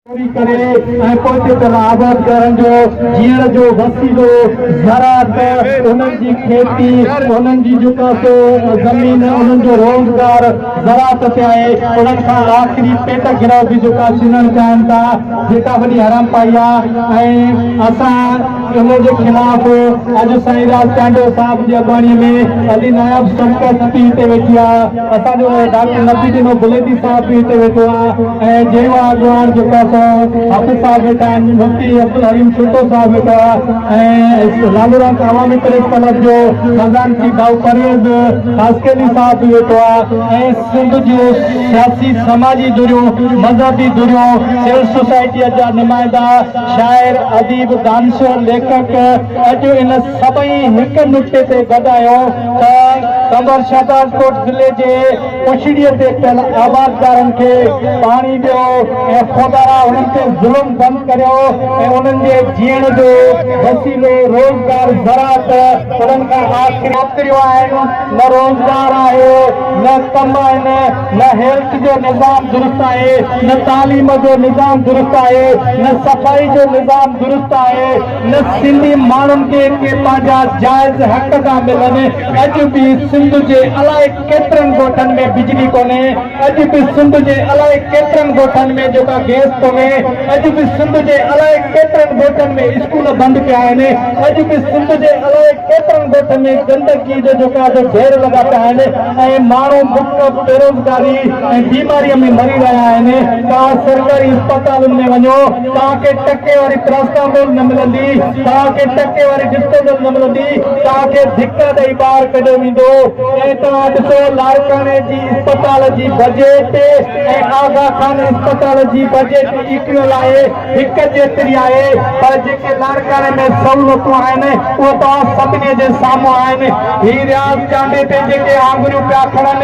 پوري ڪري ۽ پوئتي طرح آباد ڪرڻ جو جيئڻ جو وسيلو زراعت انهن جي کيتي انهن جي جيڪا سو زمين انهن جو روزگار زراعت تي آهي انهن کان آخري پيٽ گرو به جيڪا ڇنڻ چاهن ٿا جيڪا وڏي حرام پائي آهي ۽ اسان ان جي خلاف اڄ سائين راز چانڊيو صاحب جي اڳواڻي ۾ علي ناياب سنڪت پي تي ويٺي آهي اسان جو ڊاڪٽر نبي ڏنو بليٽي صاحب به هتي ويٺو آهي ۽ جيئن اڳواڻ جيڪا سو حافظ صاحب ويٺا آهن مفتي عبدالحليم ٺٽو صاحب ويٺو آهي ۽ لالوران عوامي پريس ڪلب جو خزانچي ڀائو پرويز خاصخيلي صاحب به ويٺو آهي ۽ سنڌ جون سياسي سماجي ڌريون مذهبي ڌريون سول سوسائٽيء جا نمائندا شاعر اديب دانشور ليکڪ اڄ ان سڀئي هڪ نڪتي تي گڏ آيو ته قمبر شهدادڪوٽ ضلعي جي پڇڙيء تي پيل آبادگارن کي پاڻي ڏيو ۽ خدارا انهن تي ظلم بند ڪريو ۽ انهن جي جيئڻ جو وسيلو روزگار زراعت انهن کان آخر ڪريو آهن نه روزگار آهي نه ڪم آهن نه هيلٿ جو نظام درست آهي نه تعليم جو نظام درست آهي نه صفائي جو نظام درست آهي نه سنڌي ماڻهن کي ڪي پنهنجا جائز حق ٿا ملن، اڄ به سنڌ جي الائي ڪيترن ڳوٺن ۾ بجلي ڪونهي، اڄ به سنڌ جي الائي ڪيترن ڳوٺن ۾ جوڪا گئس ڪونهي، اڄ به سنڌ جي الائي ڪيترن ڳوٺن ۾ اسڪول بند پيا آهن، اڄ به سنڌ جي الائي ڪيترن ڳوٺن ۾ گندگي جو جوڪا جو ڍير لڳا پيا آهن ۽ ماڻهو بک، بيروزگاري ۽ بيماريء ۾ مري رهيا آهن، توهان سرڪاري اسپتالن ۾ وڃو. توهان کي ٽڪي واري پراسٽامول نه ملندي، توهان کي ٽڪي واري ڊسٽوبل نه ملندي، توهان کي ڌڪا ڏئي ٻاهر ڪڍيو ويندو ۽ توهان ڏسو لاڙڪاڻي جي اسپتال جي بجيٽ ۽ آغا خان اسپتال جي بجيٽ ايڪوئل آهي، هڪ جيتري آهي پر جيڪي لاڙڪاڻي ۾ سهولتون آهن اهي توهان سڀني جي سامهون آهن. هي رياض چانڊي تي جيڪي آڱريون پيا کڻن،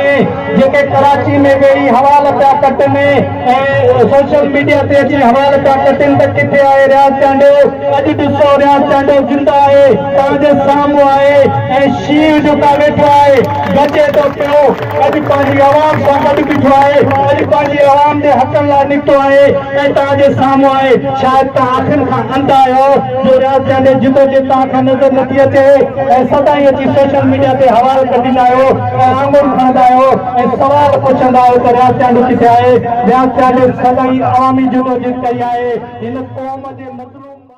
جيڪي ڪراچي ۾ ويهي حوال پيا ڪٽن، ۽ سوشل ميڊيا تي اچي حوال پيا ڪٽن ته ڪٿي آهي رياض چانڊيو اڄ ڏسو رياض چانڊيو زنده آهي توهان جي سامهون آهي ۽ شينهن جو ڪا ويٺو آهي گجي ٿو پيو اڄ پنهنجي عوام سان گڏ بيٺو آهي اڄ پنهنجي عوام جي حقن لاء نڪتو آهي ۽ توهان جي سامهون آهي شايد توهان اکين کان انڌ آهيو جو رياض چانڊيو جدوجهد توهان کان نظر نٿي اچي ۽ سدائين اچي سوشل ميڊيا تي حوال ڪٽيندا آهيو تعامل کندا آهيو ۽ سوال پڇندا آهيو ته رياضياڻي ڪٿي آهي؟ رياضياڻي سدائين عوامي جدوجھد ڪئي آهي، هن قوم جي مظلوم.